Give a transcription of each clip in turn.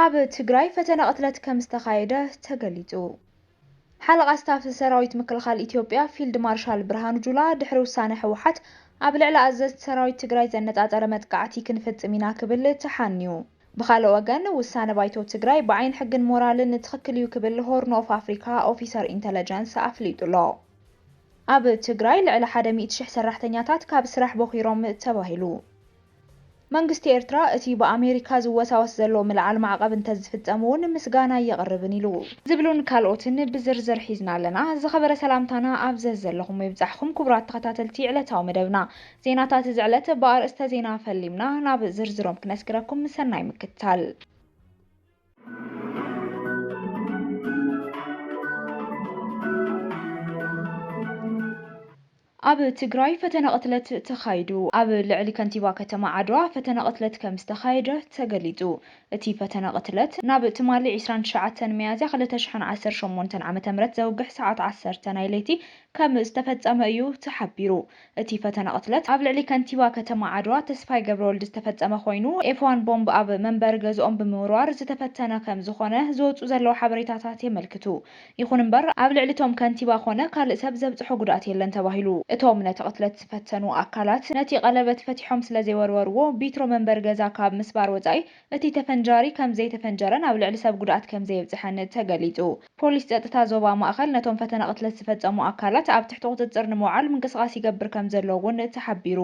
ኣብ ትግራይ ፈተነ ቅትለት ከምዝተኻየደ ተገሊፁ። ሓለቓ ስታፍ ሰራዊት ምክልኻል ኢትዮጵያ ፊልድ ማርሻል ብርሃኑ ጁላ ድሕሪ ውሳነ ህወሓት ኣብ ልዕሊ ኣዘዝቲ ሰራዊት ትግራይ ዘነፃፀረ መጥቃዕቲ ክንፍፅም ኢና ክብል ተሓንዩ። ብኻልእ ወገን ውሳነ ባይቶ ትግራይ ብዓይኒ ሕግን ሞራልን ትኽክል እዩ ክብል ሆርን ኦፍ ኣፍሪካ ኦፊሰር ኢንተለጀንስ ኣፍሊጡ'ሎ። ኣብ ትግራይ ልዕሊ ሓደ ሚእቲ ሽሕ ሰራሕተኛታት ካብ ስራሕ ቦኺሮም ተባሂሉ። መንግስቲ ኤርትራ እቲ ብኣሜሪካ ዝወሳወስ ዘሎ ምልዓል ማዕቐብ እንተዝፍጸም'ውን ምስጋናይ የቕርብን ኢሉ። ዝብሉን ካልኦትን ብዝርዝር ሒዝና ኣለና። ዝኸበረ ሰላምታና ኣብ ዘዘለኹሞ ይብጻሕኹም ክቡራት ተኸታተልቲ ዕለታዊ መደብና። ዜናታት እዚ ዕለት ብኣርእስተ ዜና ፈሊምና ናብ ዝርዝሮም ክነስግረኩም ሰናይ ምክትታል። ኣብ ትግራይ ፈተነ ቕትለት ተኻይዱ። ኣብ ልዕሊ ከንቲባ ከተማ ዓድዋ ፈተነ ቕትለት ከም ዝተኻየደ ተገሊፁ። እቲ ፈተነ ቕትለት ናብ ትማሊ ዕስራን ትሽዓተን ሚያዝያ ክልተ ሽሕን ዓሰርተ ሸሞንተን ዓመተ ምህረት ዘውግሕ ሰዓት ዓሰርተ ናይ ለይቲ ከም ዝተፈፀመ እዩ ተሓቢሩ። እቲ ፈተነ ቕትለት ኣብ ልዕሊ ከንቲባ ከተማ ዓድዋ ተስፋይ ገብረወልድ ዝተፈፀመ ኮይኑ ኤፍዋን ቦምብ ኣብ መንበሪ ገዝኦም ብምውርዋር ዝተፈተነ ከም ዝኾነ ዝወፅኡ ዘለዉ ሓበሬታታት የመልክቱ። ይኹን እምበር ኣብ ልዕሊ እቶም ከንቲባ ኮነ ካልእ ሰብ ዘብፅሖ ጉድኣት የለን ተባሂሉ። እቶም ነቲ ቅትለት ዝፈተኑ ኣካላት ነቲ ቀለበት ፈቲሖም ስለዘይወርወርዎ ቢትሮ መንበሪ ገዛ ካብ ምስባር ወፃኢ እቲ ተፈንጃሪ ከምዘይተፈንጀረን ኣብ ልዕሊ ሰብ ጉድኣት ከምዘየብፅሐን ተገሊፁ። ፖሊስ ፀጥታ ዞባ ማእኸል ነቶም ፈተነ ቅትለት ዝፈፀሙ ኣካላት ኣብ ትሕቲ ቁፅፅር ንምውዓል ምንቅስቓስ ይገብር ከምዘሎ እውን ተሓቢሩ።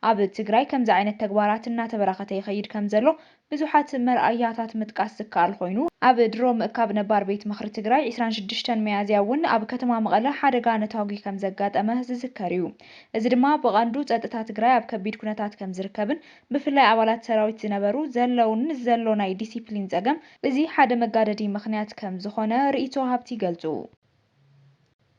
ኣብ ትግራይ ከምዚ ዓይነት ተግባራት እናተበራኸተ ይኸይድ ከምዘሎ ብዙሓት መርኣያታት ምጥቃስ ዝከኣል ኾይኑ ኣብ ድሮ ምእካብ ነባር ቤት ምኽሪ ትግራይ ዕስራን ሽዱሽተን ሚያዝያ እውን ኣብ ከተማ መቐለ ሓደጋ ነታጒ ከምዘጋጠመ ዝዝከር እዩ። እዚ ድማ ብቐንዱ ፀጥታ ትግራይ ኣብ ከቢድ ኩነታት ከምዝርከብን ብፍላይ ኣባላት ሰራዊት ዝነበሩ፣ ዘለውን ዘሎ ናይ ዲሲፕሊን ፀገም እዚ ሓደ መጋደዲ ምኽንያት ከምዝኾነ ርኢቶ ወሃብቲ ይገልፁ።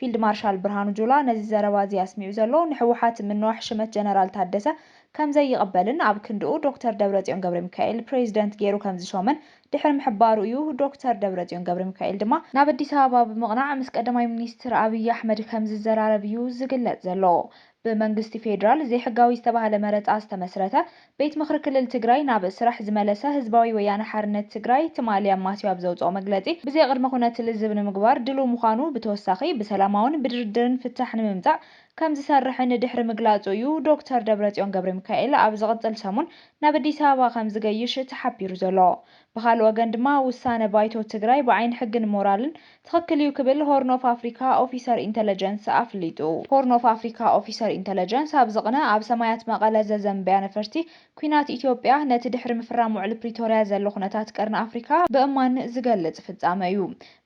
ፊልድ ማርሻል ብርሃኑ ጁላ ነዚ ዘረባ እዚ ኣስሚዑ ዘሎ ንሕወሓት ምንዋሕ ሽመት ጀነራል ታደሰ ከምዘይቕበልን ኣብ ክንድኡ ዶክተር ደብረፅዮን ገብረሚካኤል ፕሬዚደንት ገይሩ ከምዝሾመን ድሕሪ ምሕባሩ እዩ። ዶክተር ደብረፅዮን ገብረሚካኤል ድማ ናብ ኣዲስ ኣበባ ብምቕናዕ ምስ ቀዳማይ ሚኒስትር ኣብይ ኣሕመድ ከምዝዘራረብ እዩ ዝግለፅ ዘሎ። ብመንግስቲ ፌዴራል ዘይሕጋዊ ዝተባህለ መረፃ ዝተመስረተ ቤት ምኽሪ ክልል ትግራይ ናብ ስራሕ ዝመለሰ ህዝባዊ ወያነ ሓርነት ትግራይ ትማሊ ኣማስዩ ኣብ ዘውፅኦ መግለፂ ብዘይ ቕድመ ኹነት ልዝብ ንምግባር ድልው ምዃኑ ብተወሳኺ ብሰላማውን ብድርድርን ፍታሕ ንምምፃእ ከምዝሰርሕን ድሕሪ ምግላፁ እዩ ዶክተር ደብረፅዮን ገብረሚካኤል ኣብ ዝቕፅል ሰሙን ናብ ኣዲስ ኣበባ ከምዝገይሽ ተሓቢሩ ዘሎ ብኻልእ ወገን ድማ ውሳነ ባይቶ ትግራይ ብዓይኒ ሕግን ሞራልን ትኽክል እዩ ክብል ሆርን ኦፍ ኣፍሪካ ኦፊሰር ኢንተለጀንስ ኣፍሊጡ። ሆርን ኦፍ ኣፍሪካ ኦፊሰር ኢንተለጀንስ ኣብዚ ቕነ ኣብ ሰማያት መቐለ ዘዘንበያ ነፈርቲ ኲናት ኢትዮጵያ ነቲ ድሕሪ ምፍራም ውዕሊ ፕሪቶርያ ዘሎ ኩነታት ቀርኒ ኣፍሪካ ብእማን ዝገልፅ ፍፃመ እዩ።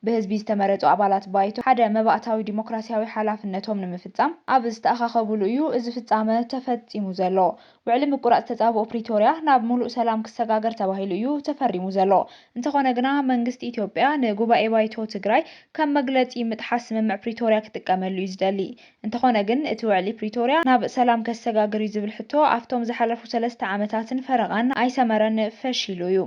ብህዝቢ ዝተመረፁ ኣባላት ባይቶ ሓደ መባእታዊ ዲሞክራሲያዊ ሓላፍነቶም ንምፍፃም ኣብ ዝተኣኻኸብሉ እዩ እዚ ፍፃመ ተፈፂሙ ዘሎ። ውዕሊ ምቁራጽ ተጻብኦ ፕሪቶርያ ናብ ሙሉእ ሰላም ክሰጋገር ተባሂሉ እዩ ተፈሪሙ ዘሎ። እንተኾነ ግና መንግስቲ ኢትዮጵያ ንጉባኤ ባይቶ ትግራይ ከም መግለጺ ምጥሓስ ስምምዕ ፕሪቶርያ ክጥቀመሉ እዩ ዝደሊ። እንተኾነ ግን እቲ ውዕሊ ፕሪቶርያ ናብ ሰላም ከሰጋግር እዩ ዝብል ሕቶ ኣፍቶም ዝሓለፉ ሰለስተ ዓመታትን ፈረቓን ኣይሰመረን ፈሺሉ እዩ።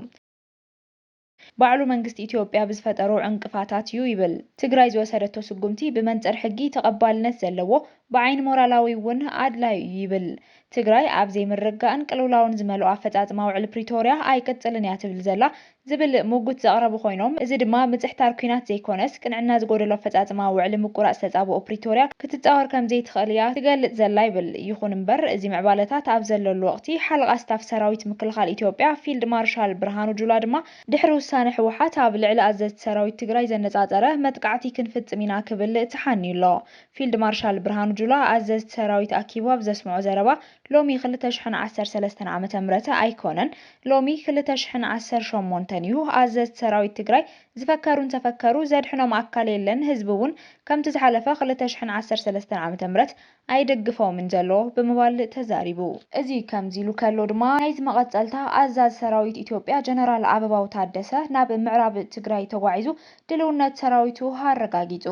ባዕሉ መንግስቲ ኢትዮጵያ ብዝፈጠሮ ዕንቅፋታት ዩ ይብል። ትግራይ ዝወሰደቶ ስጉምቲ ብመንፅር ሕጊ ተቐባልነት ዘለዎ፣ ብዓይኒ ሞራላዊ ውን ኣድላዩ ዩ ይብል። ትግራይ ኣብ ዘይምርግጋእን ቅልውላውን ዝመልኦ ኣፈፃፅማ ውዕሊ ፕሪቶርያ ኣይቅፅልን እያ ትብል ዘላ ዝብል ሙጉት ዘቕረቡ ኮይኖም እዚ ድማ ምፅሕታር ኩናት ዘይኮነስ ቅንዕና ዝጎደሎ ኣፈፃፅማ ውዕሊ ምቁራፅ ተፃብኦ ፕሪቶርያ ክትፃወር ከምዘይትኽእል እያ ትገልፅ ዘላ ይብል። ይኹን እምበር እዚ ምዕባለታት ኣብ ዘለሉ ወቕቲ ሓለቓ ስታፍ ሰራዊት ምክልኻል ኢትዮጵያ ፊልድ ማርሻል ብርሃኑ ጁላ ድማ ድሕሪ ውሳነ ህወሓት ኣብ ልዕሊ ኣዘዝቲ ሰራዊት ትግራይ ዘነፃፀረ መጥቃዕቲ ክንፍፅም ኢና ክብል ተሓንዩ ኣሎ። ፊልድ ማርሻል ብርሃኑ ጁላ ኣዘዝቲ ሰራዊት ኣኪቡ ኣብ ዘስምዖ ዘረባ ሎሚ ክልተ ሽሕን ዓሰርተ ሰለስተን ዓመተ ምህረት ኣይኮነን ሎሚ ክልተ ሽሕን ዓሰርተ ሸሞንተን እዩ ኣዘዝቲ ሰራዊት ትግራይ ዝፈከሩ እንተፈከሩ ዘድሕኖም ኣካል የለን ህዝቢ እውን ከምቲ ዝሓለፈ ክልተ ሽሕን ዓሰርተ ሰለስተን ዓመተ ምህረት ኣይደግፎምን ዘሎ ብምባል ተዛሪቡ። እዚ ከምዚ ኢሉ ከሎ ድማ ናይዚ መቐጸልታ ኣዛዚ ሰራዊት ኢትዮጵያ ጀነራል ኣበባው ታደሰ ናብ ምዕራብ ትግራይ ተጓዒዙ ድልውነት ሰራዊቱ ኣረጋጊጹ።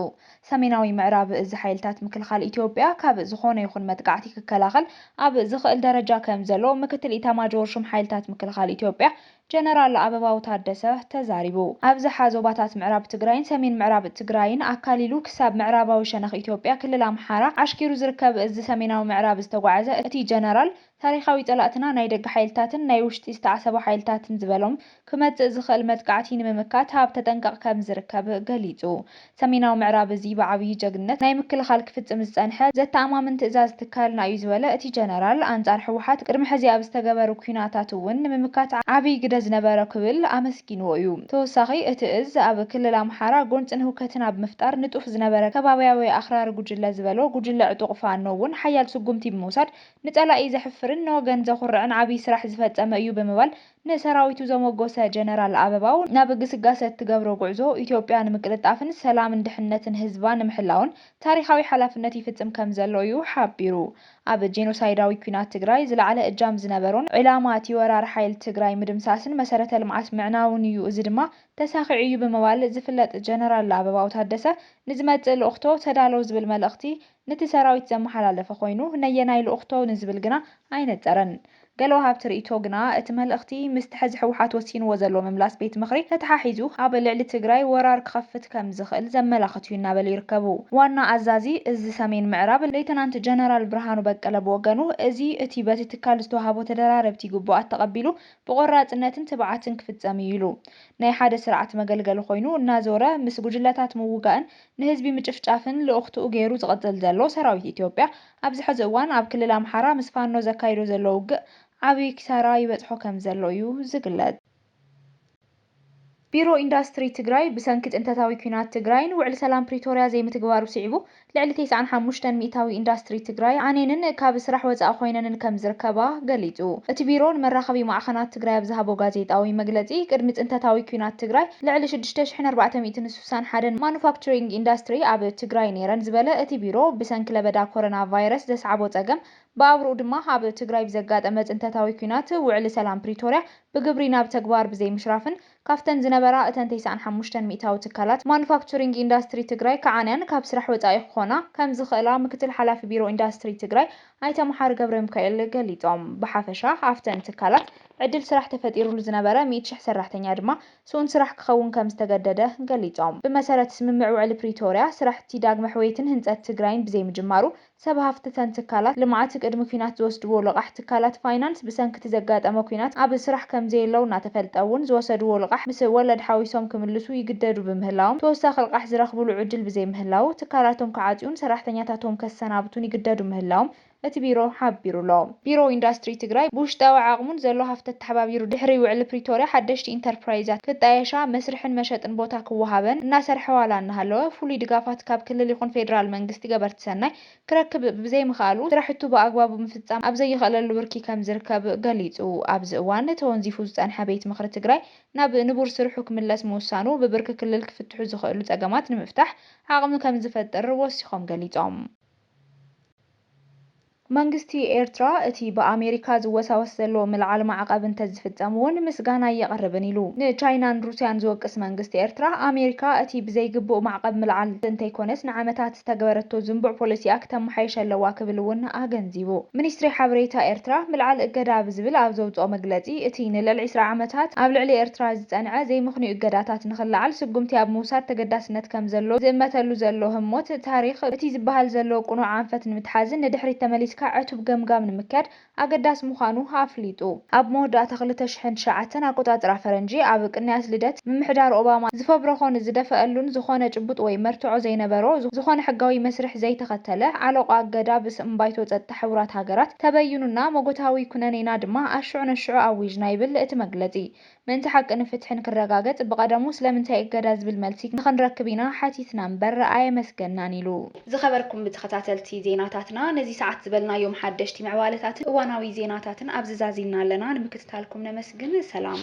ሰሜናዊ ምዕራብ እዚ ሓይልታት ምክልኻል ኢትዮጵያ ካብ ዝኾነ ይኹን መጥቃዕቲ ክከላኸል ኣብ ዝኽእል ደረጃ ከምዘሎ ምክትል ኢታማጆር ሹም ሓይልታት ምክልኻል ኢትዮጵያ ጀነራል ኣበባው ታደሰ ተዛሪቡ። ኣብዝሓ ዞባታት ምዕራብ ትግራይን ሰሜን ምዕራብ ትግራይን ኣካሊሉ ክሳብ ምዕራባዊ ሸነኽ ኢትዮጵያ ክልል ኣምሓራ ዓሽኪሩ ዝርከብ እዝ ሰሜናዊ ምዕራብ ዝተጓዓዘ እቲ ጀነራል ታሪኻዊ ፀላእትና ናይ ደገ ሓይልታትን ናይ ውሽጢ ዝተዓሰቡ ሓይልታትን ዝበሎም ክመፅእ ዝኽእል መጥቃዕቲ ንምምካት ኣብ ተጠንቀቕ ከምዝርከብ ገሊፁ። ሰሜናዊ ምዕራብ እዚ ብዓብዪ ጀግንነት ናይ ምክልኻል ክፍፅም ዝፀንሐ ዘተኣማምን ትእዛዝ ትካልና እዩ ዝበለ እቲ ጀነራል፣ ኣንፃር ህወሓት ቅድሚ ሕዚ ኣብ ዝተገበሩ ኲናታት እውን ንምምካት ዓብዪ ግደ ዝነበሮ ክብል ኣመስጊንዎ እዩ። ተወሳኺ እቲ እዝ ኣብ ክልል ኣምሓራ ጎንፅን ህውከትን ኣብ ምፍጣር ንጡፍ ዝነበረ ከባብያዊ ኣኽራሪ ጉጅለ ዝበሎ ጉጅለ ዕጡቕ ፋኖ እውን ሓያል ስጉምቲ ብምውሳድ ንፀላኢ ዘሕፍርን ንወገን ዘኹርዕን ዓብዪ ስራሕ ዝፈፀመ እዩ ብምባል ንሰራዊቱ ዘሞጎሰ ጀነራል ኣበባው፣ ናብ ግስጋሰ እትገብሮ ጉዕዞ ኢትዮጵያ ንምቅልጣፍን ሰላምን ድሕንነትን ህዝባ ንምሕላውን ታሪኻዊ ሓላፍነት ይፍጽም ከምዘሎ እዩ ሓቢሩ። ኣብ ጄኖሳይዳዊ ኲናት ትግራይ ዝለዓለ እጃም ዝነበሮን ዕላማ እቲ ወራር ሓይል ትግራይ ምድምሳስን መሰረተ ልምዓት ምዕናውን እዩ፣ እዚ ድማ ተሳኺዑ እዩ ብምባል ዝፍለጥ ጀነራል ኣበባው ታደሰ ንዝመጽእ ልኡኽቶ ተዳሎ ዝብል መልእኽቲ ነቲ ሰራዊት ዘመሓላለፈ ኮይኑ ነየናይ ልኡኽቶ ንዝብል ግና ኣይነጸረን። ገለ ወሃብቲ ርእይቶ ግና እቲ መልእኽቲ ምስቲ ሕዚ ህወሓት ወሲንዎ ዘሎ ምምላስ ቤት ምኽሪ ተተሓሒዙ ኣብ ልዕሊ ትግራይ ወራር ክኸፍት ከምዝኽእል ዘመላኽት እዩ እናበሉ ይርከቡ። ዋና ኣዛዚ እዝ ሰሜን ምዕራብ ሌተናንት ጀነራል ብርሃኑ በቀለ ብወገኑ እዚ እቲ በቲ ትካል ዝተውሃቦ ተደራረብቲ ግቡኣት ተቐቢሉ ብቖራፅነትን ትብዓትን ክፍፀም እዩ ኢሉ። ናይ ሓደ ስርዓት መገልገሊ ኮይኑ እናዞረ ምስ ጉጅለታት ምውጋእን ንህዝቢ ምጭፍጫፍን ልኡኽትኡ ገይሩ ዝቕፅል ዘሎ ሰራዊት ኢትዮጵያ ኣብዚ ሐዚ እዋን ኣብ ክልል ኣምሓራ ምስ ፋኖ ዘካይዶ ዘሎ ውግእ ዓብይ ኪሳራ ይበፅሖ ከምዘሎ እዩ ዝግለፅ። ቢሮ ኢንዳስትሪ ትግራይ ብሰንኪ ፅንተታዊ ኲናት ትግራይን ውዕሊ ሰላም ፕሪቶርያ ዘይምትግባሩ ስዒቡ ልዕሊ ቴስዓን ሓሙሽተን ሚኢታዊ ኢንዳስትሪ ትግራይ ዓንየንን ካብ ስራሕ ወፃኢ ኾይነንን ከምዝርከባ ገሊፁ። እቲ ቢሮ ንመራኸቢ ማዕኸናት ትግራይ ኣብ ዝሃቦ ጋዜጣዊ መግለፂ ቅድሚ ፅንተታዊ ኲናት ትግራይ ልዕሊ ሽዱሽተ ሺሕን ኣርባዕተ ሚእትን ስሳን ሓደን ማኑፋክቸሪንግ ኢንዳስትሪ ኣብ ትግራይ ነይረን ዝበለ እቲ ቢሮ፣ ብሰንኪ ለበዳ ኮረና ቫይረስ ዘስዓቦ ፀገም ብኣብርኡ ድማ ኣብ ትግራይ ብዘጋጠመ ፅንተታዊ ኲናት ውዕሊ ሰላም ፕሪቶርያ ብግብሪ ናብ ተግባር ብዘይምሽራፍን ካብተን ዝነበራ እተን ተስዓን ሓሙሽተን ሚእታዊ ትካላት ማኑፋክቸሪንግ ኢንዳስትሪ ትግራይ ክዓንያን ካብ ስራሕ ወፃኢ ክኾና ከምዝኽእላ ምክትል ሓላፊ ቢሮ ኢንዳስትሪ ትግራይ ኣይተ መሓሪ ገብረሚካኤል ገሊፆም። ብሓፈሻ ኣብተን ትካላት ዕድል ስራሕ ተፈጢሩሉ ዝነበረ ሚእቲ ሽሕ ሰራሕተኛ ድማ ስኡን ስራሕ ክኸውን ከም ዝተገደደ ገሊፆም። ብመሰረት ስምምዕ ውዕሊ ፕሪቶርያ ስራሕቲ ዳግመ ሕውየትን ህንፀት ትግራይን ብዘይምጅማሩ ሰብ ሃፍቲ ተን ትካላት ልምዓት ቅድሚ ኲናት ዝወስድዎ ልቓሕ ትካላት ፋይናንስ ብሰንኪ እቲ ዘጋጠመ ኲናት ኣብ ስራሕ ከም ዘየለው እናተፈልጠ እውን ዝወሰድዎ ልቓሕ ምስ ወለድ ሓዊሶም ክምልሱ ይግደዱ ብምህላዎም ተወሳኺ ልቓሕ ዝረኽብሉ ዕድል ብዘይምህላዉ ትካላቶም ክዓፅዩን ሰራሕተኛታቶም ከሰናብቱን ይግደዱ ምህላዎም እቲ ቢሮ ሓቢሩ'ሎ። ቢሮ ኢንዳስትሪ ትግራይ ብውሽጣዊ ዓቕሙን ዘሎ ሃፍቲ ኣተሓባቢሩ ድሕሪ ውዕሊ ፕሪቶርያ ሓደሽቲ ኢንተርፕራይዛት ክጣየሻ፣ መስርሕን መሸጥን ቦታ ክወሃበን እናሰርሐ ዋላ እናሃለወ ፍሉይ ድጋፋት ካብ ክልል ይኹን ፌደራል መንግስቲ ገበርቲ ሰናይ ክረክብ ብዘይምኽኣሉ ስራሕቱ ብኣግባቡ ምፍፃም ኣብ ዘይኽእለሉ ብርኪ ከምዝርከብ ገሊፁ። ኣብዚ እዋን ተወንዚፉ ዝፀንሐ ቤት ምኽሪ ትግራይ ናብ ንቡር ስርሑ ክምለስ ምውሳኑ ብብርኪ ክልል ክፍትሑ ዝኽእሉ ፀገማት ንምፍታሕ ዓቕሚ ከምዝፈጥር ወሲኾም ገሊፆም። መንግስቲ ኤርትራ እቲ ብኣሜሪካ ዝወሳወስ ዘሎ ምልዓል ማዕቐብ እንተዝፍፀም እውን ምስጋናይ የቕርብን ኢሉ። ንቻይናን ሩስያን ዝወቅስ መንግስቲ ኤርትራ፣ ኣሜሪካ እቲ ብዘይግቡእ ማዕቐብ ምልዓል እንተይኮነስ ንዓመታት ዝተግበረቶ ዝንቡዕ ፖሊሲኣ ክተመሓይሽ ኣለዋ ክብል እውን ኣገንዚቡ። ሚኒስትሪ ሓበሬታ ኤርትራ ምልዓል እገዳ ብዝብል ኣብ ዘውፅኦ መግለፂ እቲ ንልዕሊ ዕስራ ዓመታት ኣብ ልዕሊ ኤርትራ ዝፀንዐ ዘይምኽንዩ እገዳታት ንኽለዓል ስጉምቲ ኣብ ምውሳድ ተገዳስነት ከምዘሎ ዝእመተሉ ዘሎ ህሞት ታሪኽ፣ እቲ ዝበሃል ዘሎ ቅኑዕ ኣንፈት ንምትሓዝን ንድሕሪት ተመሊስካ ዕቱብ ገምጋም ንምክያድ ኣገዳሲ ምዃኑ ኣፍሊጡ። ኣብ መወዳእታ ክልተ ሽሕን ትሽዓተን ኣቆጻጽራ ፈረንጂ፣ ኣብ ቅንያት ልደት፣ ምምሕዳር ኦባማ ዝፈብረኾን ዝደፈኣሉን ዝኾነ ጭቡጥ ወይ መርትዖ ዘይነበሮ፣ ዝኾነ ሕጋዊ መስርሕ ዘይተኸተለ፣ ዓሎቋ ኣገዳ ብስም ባይቶ ጸጥታ ሕቡራት ሃገራት ተበዩኑና፣ ሞጎታዊ ኩነኔና ድማ ኣሽዑ ነሽዑ ኣዊጅና ይብል እቲ መግለጺ። ምእንቲ ሓቅን ፍትሕን ክረጋገጽ ብቐደሙ ስለምንታይ እገዳ ዝብል መልሲ ንኽንረክብ ኢና ሓቲትና እምበር ኣየመስገንናን ኢሉ። ዝኸበርኩም ተኸታተልቲ ዜናታትና ነዚ ሰዓት ዝበልናዮም ሓደሽቲ ምዕባለታትን እዋናዊ ዜናታትን ኣብዚ ዛዚምና ኣለና። ንምክትታልኩም ነመስግን። ሰላም።